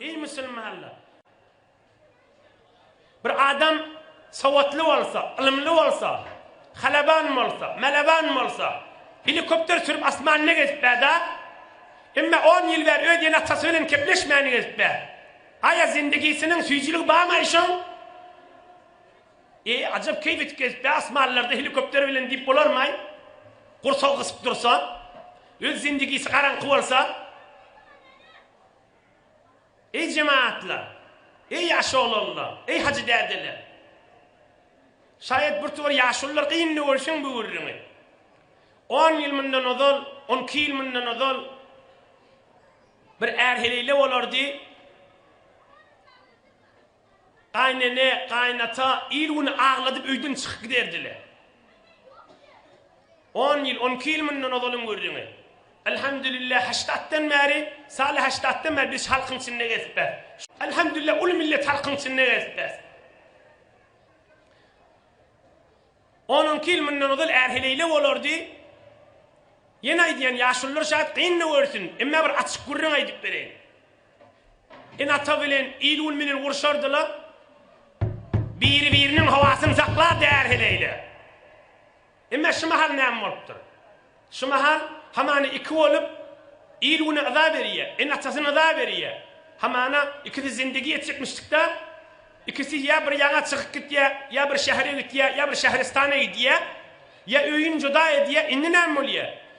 Eý musulmanlar! Bir adam sowatly bolsa, ylymly bolsa, halaban bolsa, mäleban bolsa, helikopter sürüp asmanda gezip bärda, emma 10 ýyl bäri öz ene-atasy bilen kepleşmän gezip bär. Aýa zindigisiniň süýjüligi barmy aýşoň? Eý, ajap keýp etip gezipdi-ä asmanlarda helikopter bilen diýip bolarmaý? Gursagy gysyp dursa, öz zindigisi garaňky bolsa. Eý, jemagatlar! Eý, ýaş oglanlar! Eý, hajy dädeler! Şaýat birtowar ýaşulylar gynly görseň bu gürrüňi. On ýyl mundan ozal, on iki ýyl mundan ozal bir är heleýle bolardy. Gaýnene, gaýynata il-güni agladyp öýden çykyp giderdiler. On ýyl, on iki ýyl mundan ozalyň gürrüňi. Elhamdülillah, haşdatdan bäri, Saly haşdatdan bäri biz halkyň içinde gezipbäs. Elhamdülillah, uly millet halkyň içinde gezipbäs. On-on iki ýyl mundan ozal är-heleýle bolardy. Ýene aýdýan, ýaşulylar şaýat, gyn-da görsün, emma bir açyk gürrüň aýdyp bereýin. Ene-ata bilen il-gün bilen urşardylar. Biri-biriniň howasyny saklardy är-heleýler. Emma şu mahal näme bolupdyr? Şu mahal hamana iki bolup, il-güne yza berýär, ene-atasyna yza berýär. Hamana ikisi zindigi ýetjekmişdik-dä. Ikisi ýa bir ýaňa çykyp gitýär, ýa bir şähere gitýär, ýa bir şähristana gidýär, ýa öýüni juda edýär. Indi näme bolýar?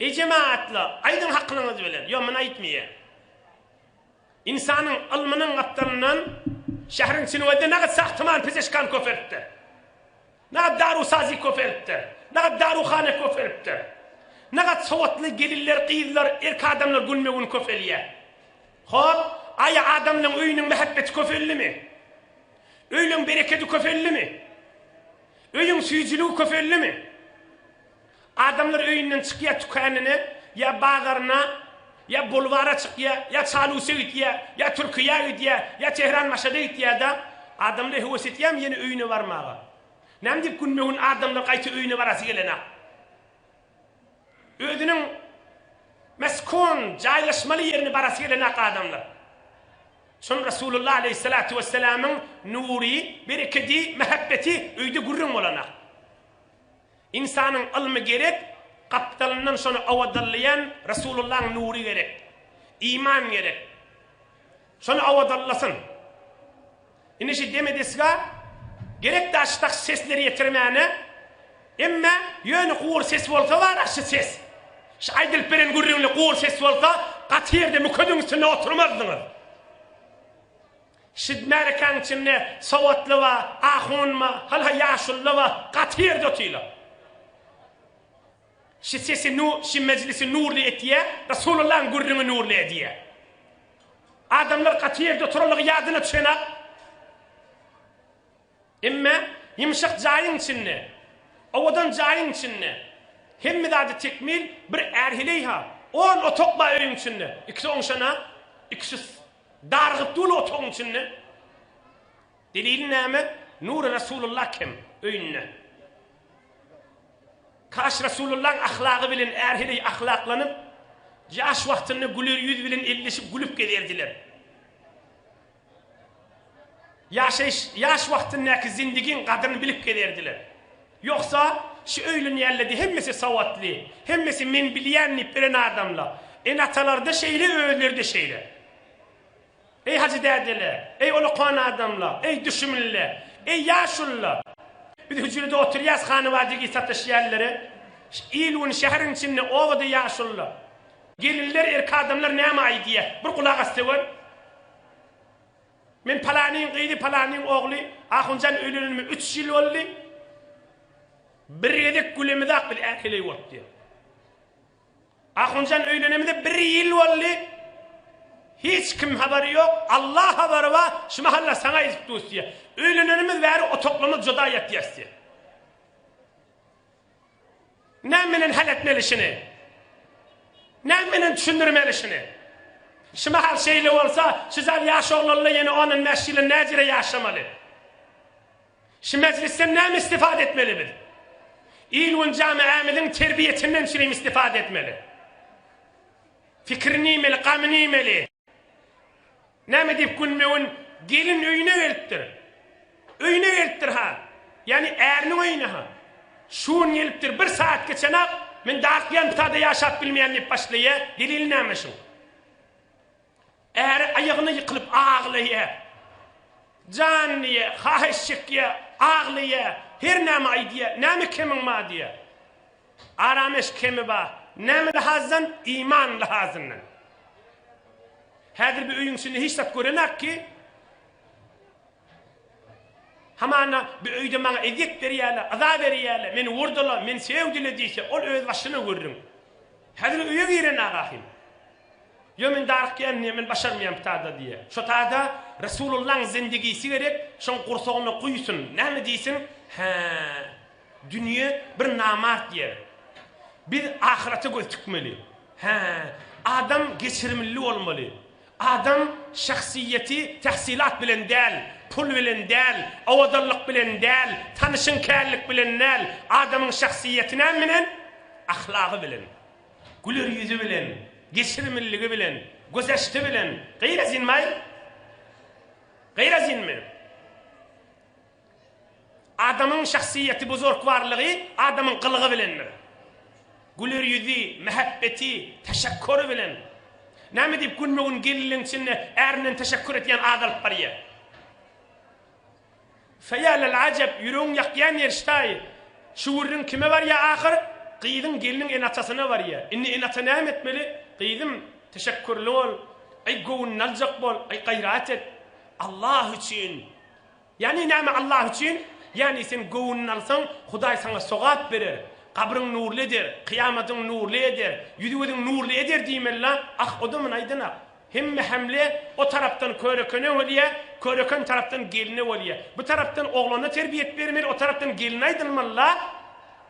Ejem atly aýdyň hakylyňyz bilen. Ýok men aýtmaýan. Ynsanyň ylmynyň gapdalyndan şähriň çinwede nagat sahtyman pizişkan köpelipdir. Nagat daru sazy köpelipdir. Nagat daru hane köpelipdir. Nagat sowatly gelinler gyzlar erk adamlar günbe gün köpelýä. Hop aýa adamlaň öýüniň mähebbeti köpeldimi? Öýleň berekedi köpeldimi? Öýüň süýjiligi köpeldimi? Adamlar öýünden çykýar tükänine ýa bazaryna ýa bulwara çykýar ýa çaluse gitýär ýa türkiýä gidýär ýa tehran maşada gitýärda adamlar höwes etýärmi ýene öýüne barmaga näme diýip günbe gün adamlar gaýta öýüne barasy gelenok özüniň meskon jaýlaşmaly ýerine barasy gelenok adamlar şon rasulullah aleýhissalatu wessalamyň nury berekedi mähebbeti öýde gürrüň bolanok Ynsanyň ylmy gerek, gapdalyndan şony owadallaýan Resulullaň nury gerek. Iman gerek. Şony owadallasyn. Indi şu deme desga gerek da şu taks sesleri ýetirmäne. Emme ýöne gury ses bolsa bar-a şu ses. Şu aýdylyp beren gürrüňli gury ses bolsa gaty ýerde mükeziň üstünde oturmazdyňyz. Siz märekäň içinde sowatly ba, ahun ba, hal-ha ýaşulyda ba, gaty ýerde otyla. Şi sesi nu, şi mejlisi nurly etýä, Rasulullaň gürrüňi nurly edýä. Adamlar gaty ýerde oturanlygy ýadyna düşenä. Emme, ýymşak jaýyň içinde, owadan jaýyň içinde, hemme zady tekmil, bir är heleý-ha, on otak ba öýüň içinde, ikisi oňşan-a, ikisi Dargyt uly otagyň içinde. Deliliň näme? Nury Resulullah kim? Öýünde. Kaş Resulullahyň ahlagy bilen är heleý ahlaklanyp, ýaş wagtynda güler ýüz bilen elleşip gülüp gezerdiler. Ýaşaýyş, ýaş wagtyndaky zindigiň gadryny bilip gezerdiler. Ýogsa, şu öýlän ýälledi hemmesi sowatly, hemmesi men bilýän diýip ölen adamla. Ene-atalarda şeýle, özleri-de şeýle. Eý hajy dädele, eý olakan adamla, eý düşümlile, eý ýaşulyla. Biz hüjrede oturýas hany-bajy giý satyş ýällere. Il-gün şäheriň içinde, obada ýaşulyla. Gelinler, erkadamlar näme aýdýa, bir gulak assa gör. Men palanyň gyzy, palanyň ogly Ahunjan öýlenenime üç ýyl boldy. Bir gezek gülemiz-ak biz äheleý bolup diýýär. Ahunjan öýlenemize bir ýyl boldy. Hiç kim habary ýok. Alla habary bar. Şu mahal-la saňa ýetip durus diýýär. Öýlenenimiz bäri otaglarymyz juda ýatýarys diýýär. Näme bilen hal etmelişini, näme bilen düşündirmelişini. Şu mahal şeýle bolsa, şu zal ýaş oglanla ýene on-on bäş ýyla näjere ýaşamaly? Şu mejlisden näme istifade etmeli biz? Il-gün jamiämiziň terbiýesinden çürim istifade etmeli. Fikrini iýmeli, gamyny iýmeli. Näme diýip gülmegin, gelin öýüne gelipdir. Öýüne gelipdir ha. Ýagny äriniň öýüne ha. Şu gün gelipdir, bir sagat geçenak, men Darkýantada ýaşap bilmeýän diýip başlaýa, delili näme şuň? Äri aýagyna ýykylyp aglaýa. Janyny diýýä, haýyş çekýä, aglaýa, hernäme aýdýa, näme kemiň bar diýýä. Arameş kemi bar. Näme lahazdan? Iman lahazyndan. Häzir bir öýüň içinde hiç zat görenak ki, hamana bir öýde maňa ezýet berýäler, yza berýäler, meni urdylar, meni sögdüler diýse, ol öz başyna görüň. Häzir öýe girenaga hem. Ýo men daryk ýändiýä men başarmaýan bu tada diýýä. Şo tada Resulullaň zindigisi gerek şoň gursagyna guýsun näme diýsin hä dünýe bir namart ýer. Biz ahyrata göz tikmeli. Hä adam geçirimlli bolmaly. Adam şahsyýeti tahsylat bilen däl, pul bilen däl, owadanlyk bilen däl, tanyşyň känlik bilen däl, adamyň şahsyýeti näme bilen? Ahlagy bilen. Güler ýüzi bilen, geçirimliligi bilen, gözaşdy bilen gyra synmaý. Gyra synmyr. Adamyň şahsyýeti, buzurgwarlygy adamyň gylygy bilendir. Güler ýüzi, mähebbeti, teşekküri bilen. Näme diýip günbe-gün gelinleň içinde ärinden teşekkür edýän adalyp barýar. Feýalel ajep, ýüregiň ýakýan erişdaýy, şu gürrüň kime barýa ahyr? Gyzyň, gelniň ene-atasyna barýa. Indi ene-ata näme etmeli? Gyzym, teşekgürli bol. Aý, göwnüni aljak bol. Aý, gaýrat et. Allah üçin! Ýagny näme Allah üçin? Ýagny sen göwnüni alsaň, Hudaý saňa sogap berer, gabryň nurly eder, kyýamadyň nurly eder, ýüzi-gözüň nurly eder diýmeli-la. Ah, o-da muny aýdan-a. Hemme hemle o tarapdan körekene bolýa, köreken tarapdan geline bolýa. Bu tarapdan oglana terbiýet bermeli, o tarapdan geline aýdylmaly-la.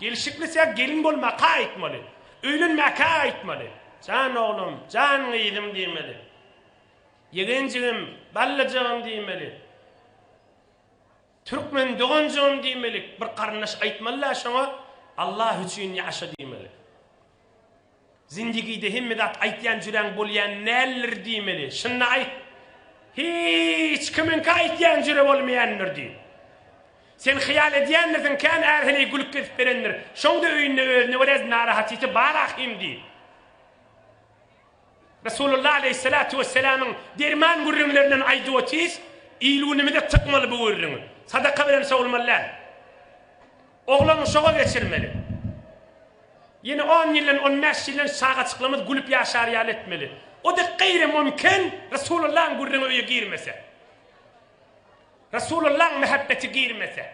Gelişiklisäk gelin bolmaka aýtmaly. Öýlenmäkä aýtmaly. Jan oglum, jan gyzym diýmeli. Ýegenjigim, ballajygym diýmeli. Türkmen doganjygym diýmelik bir garyndaş aýtmalyda şoňa Allah üçin ýaşa diýmeli. Zindigide hemme zat aýtýan jüräň bolýan däldir diýmeli. Şunda aýt. Hiç kimiňki aýtýan jüre bolmaýandyr diý. Sen hyýal edýändirsiň kän är heleý gülüp gezip berendir. Şoňda öýünde özüne görä narahatyty bar ahym diý. Resulullah aleýhissalatu wesselamyň derman gürrüňlerinden aýdyp otyrys, il-günümize tykmaly bu gürrüňi. Sadaka bilen sowulmaly däl. Oglan uşaga geçirmeli. Ýene on ýyldan, on bäş ýyldan çagaçyklarymyz gülüp ýaşar ýaly etmeli. O-da gaýrymumkin Resulullahyň gürrüňi öýe girmese. Resulullahyň mähebbeti girmese.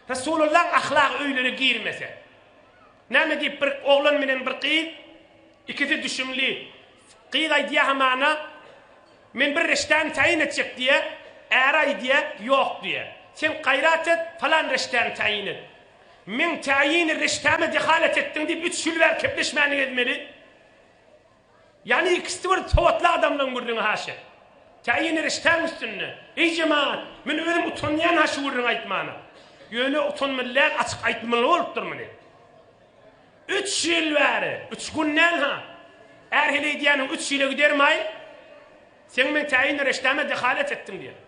Resulullahyň ahlagy öýlere girmese. Näme diýip bir oglan menen bir gyz ikisi düşümli gyz aýdýa hamana men bir reştäni taýyn etjek diýýä äri aýdýa ýok diýýä sen gaýrat et falan reştäni taýyn et meň taýyny reştäme dehalat etdiň diýip üç ýyl bäri kepleşmäniňi edmeli. Ýagny ikisi bir sowatly adamlaň gürrüňi haşa. Kä ýene riştäň üstünde. Eý jemagat, men özüm utanýan ha şu gürrüňi aýtmana. Ýöne utanmaly däl açyk aýtmaly bolupdyr muny. Üç ýyl bäri, üç gün däl ha. Är heleý diýýäniň üç ýyla gidermaý. Seň meň tä ýene rişdäme dehalet etdiň diýýän.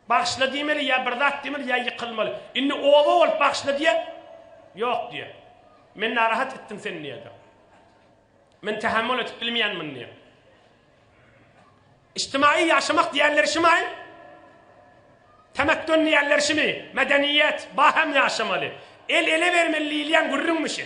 Bagyşla diýmeli, ýa bir zat diýmeli, ýa ýykylmaly. Indi oba bolup bagyşla diýer, ýok diýer. Men narahat etdim seni diýerdi. Men tähämmül edip bilmeýänmin diýer. Ijtimaýy ýaşamak diýerleri şumy? Temetdün diýerleri şumy? Medeniýet, baham ýaşamaly. El ele bermeli diýilýän gürrüňmi şu?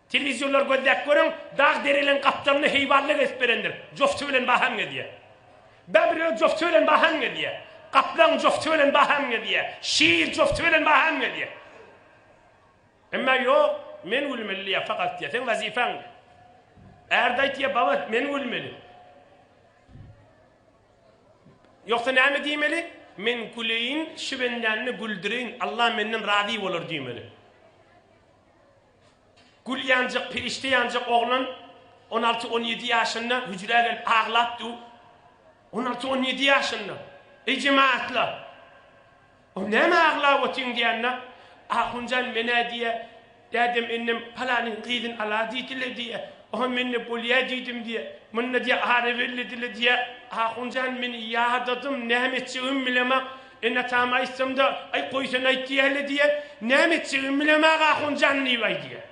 Telewizorlar gözläp görüň, dag dereleň gapdalyny heýwanlar gezip berendir, jofty bilen baham gezýär. Bebr öz jofty bilen baham gezýär. Gaplaň jofty bilen baham gezýär. Şir jofty bilen baham gezýär. Emma ýok, men gülmeli diýýär, fakat diýýär, seň wazipaň diýýär. Ärde aýt diýýär, baba, men gülmeli. Ýoksa näme diýmeli? Men güleýin, şu bendäni güldüreýin, Alla menden razy bolar diýmeli. Gül ýanjak, perişde ýanjak oglan on alty, on ýedi ýaşynda hüjrä gelip aglap dur. On alty, on ýedi ýaşynda. Eý, jemagatlar! O näme aglap otyň diýende, Ahunjan men-ä diýýär, dädem-enem palanyň gyzyny ala diýdiler diýýär. Oha men-de bolýa diýdim diýýär. Munda diýýär ara bellediler diýýär. Ahunjan men ýadadym, näme etjegimi bilemok. Ene atama aýtsamda, Aý, goý sen aýt diýäýeli diýýär. Näme etjegimi bilemag ahun jan diýip aý diýýär.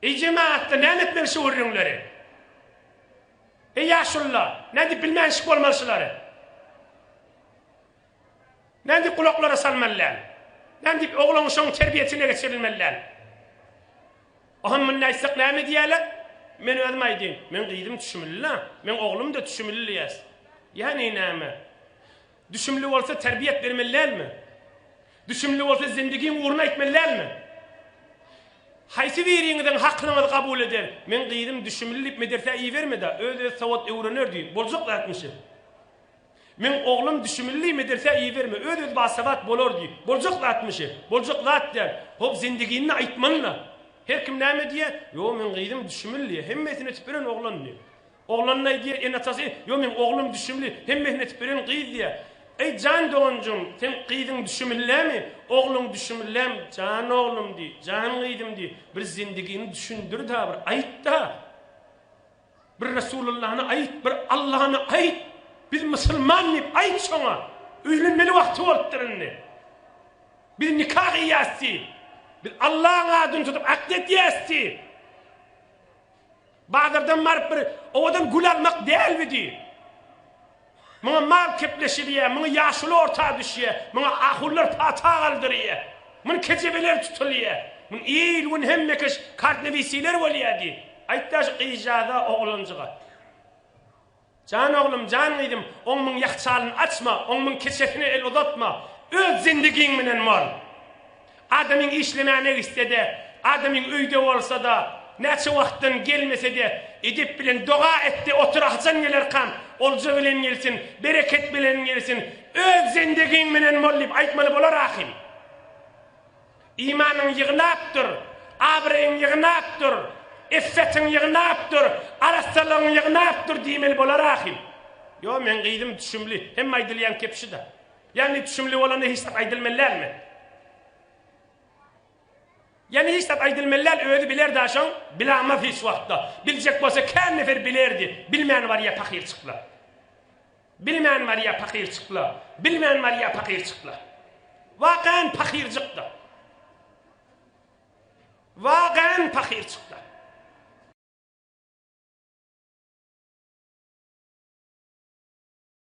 Eý, jemagatda näme etmeli şu gürrüňleri? Eý, ýaşulylar, nädip bilmänşik bolmaly şulary? Nädip gulaklara salmaly däl? Nädip ogluň şoň terbiýesine geçirilmeli däl? Ohon munda aýtsak näme diýerler? Men özüm aýdyn. Meň gyzym düşümli-la. Meň oglum-da düşümli diýäs. Ýagny näme? Düşümli bolsa terbiýet bermeli dälmi? Düşümli bolsa zendigiň ugryny aýtmaly dälmi? Haýsy biriňiziň haklyňyzy kabul eden? Meň gyzym düşümli diýip medersä iberme-da, öz-özi sowat öwrener diý. Boljak zatmy şi? Meň oglum düşimilli medresä iberme, öz-özi basabat bolar diýip. Boljak zatmy şe? Boljak zat däl. Hop, zendiginde aýtmaly-la. Her kim näme diýýä? Ýo, meň gyzym düşimilli, hemmesini etip beren oglan diýýä. Oglanyna-aý diýýä, ene-atasy, Ýo, meň oglum düşimli, hemmesini etip beren gyz diýýä. Eý, jan doganjygym, seň gyzyň düşimillemi? Ogluň düşimillem? Jan oglum diý, jan gyzym diý, bir zendigini düşündir-dä, bir aýt-da! Bir Resulallany aýyt, bir Allany aýyt, biz musulman diýip aýyt şoňa. Öýlenmeli wagty bolupdyr indi. Biz nika gyýýas diý. Biz Allaň adyny tutup akt edýäs diý. Bazardan baryp bir owadan gül almak dälbi diý. Muňa mal kepleşilýär, muňa ýaşuly orta düşýär, muňa ahunlar pata galdyrýar, muny kejebeler tutulýar, muny il-gün hemmekeş kartnewisiler bolýar diý. Aýt-da şu gyzjagaza, oglanjyga. Jan oglum, jan gyzym, oň muň ýahçalyny açma, oň muň keçesine el uzatma, öz zendigiň bilen bol. Adamyň işlemäne gitse-de, adamyň öýde bolsa-da, näçe wagtdan gelmese-de, edep bilen doga et-de otur, haçan gelerkam, olja bilen gelsin, bereket bilen gelsin, öz zendegiň bilen bol diýip aýtmaly bolar ahym. Imanyň ýygnap dur, abraýyň ýygnap dur, iffetiň ýygnap dur, arassalygyň ýygnap dur diýmeli bolar ahym. Ýo, meň gyzym düşümli, hemme aýdylýan kep şuda. Ýagny düşümli bolanda hiç zat aýdylmaly dälmi? Ýagny hiç zat aýdylmaly däl, özi biler daşoň, bilamaz hiç wagtda. Biljek bolsa kän nefer bilerdi, bilmän barýa pahyrçykla. Bilmän barýa pahyrçykla, bilmän barýa pahyrçykla. Wakan pahyrjykda. Wakan pahyrçykda.